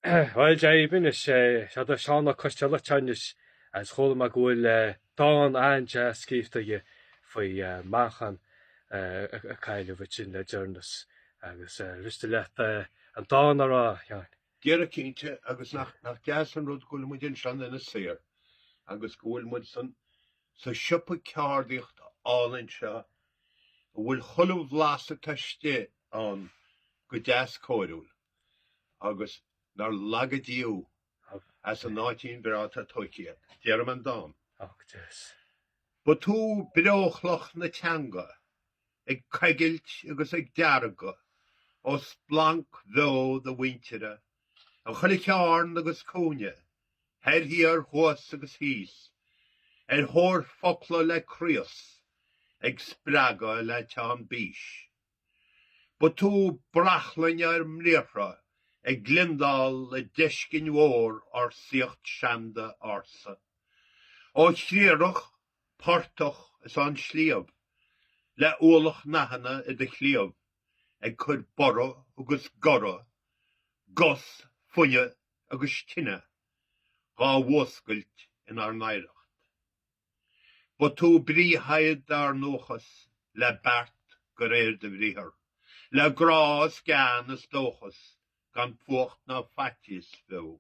Bhuel, deimhin, is é seo do Seán Ó Coistealbha anois agus chuala mé go bhfuil dán an-deas scríofa aige faoi mheáchan a cailleadh uainn le deireanas agus miste leat an dán a rá, Sheáin. Déarfaidh cinnte, agus nach deas an rud go bhfuil muid ansan ina saor agus go bhfuil muid san sa siopa ceardaíocht álainn seo a bhfuil chuile bhlas atá istigh ann go deas cóiriúil. agus nár laga Dia thú as an áitín breá atá tóigthe agat. Déarfaidh mé an dán. Ba tú breochloch na teanga, ag coigilt agus ag deargadh ó splanc bheo do mhuintire in chuile chearn agus cúinne, thoir thiar, thuas agus thíos, ar thóir focla le craos, ag spreagadh le teann bís. Ba tú brachlainn ár mbriathra ag gliondáil le deiscinn mhór ár saíocht seanda ársa. Ó chriathrach, portach is an sliabh, le ualach nathanna i do chliabh ag cur borradh agus goradh, gus, fuinneamh agus tine dhá bhfuascailt inár n-oidhreacht. Ba tú brí shaighead ár ndóchas, le beart de réir do bhriathar, le grá is gean is dóchas, gan fuacht ná faitíos fiú,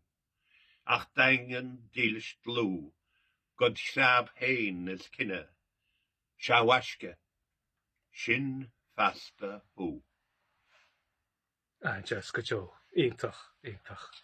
ach daingean, dílis, dlúth, dod threabh féin is cine. Sea, a mhaisce, sin feasta thú. Ah, deas go deo. Iontach, iontach.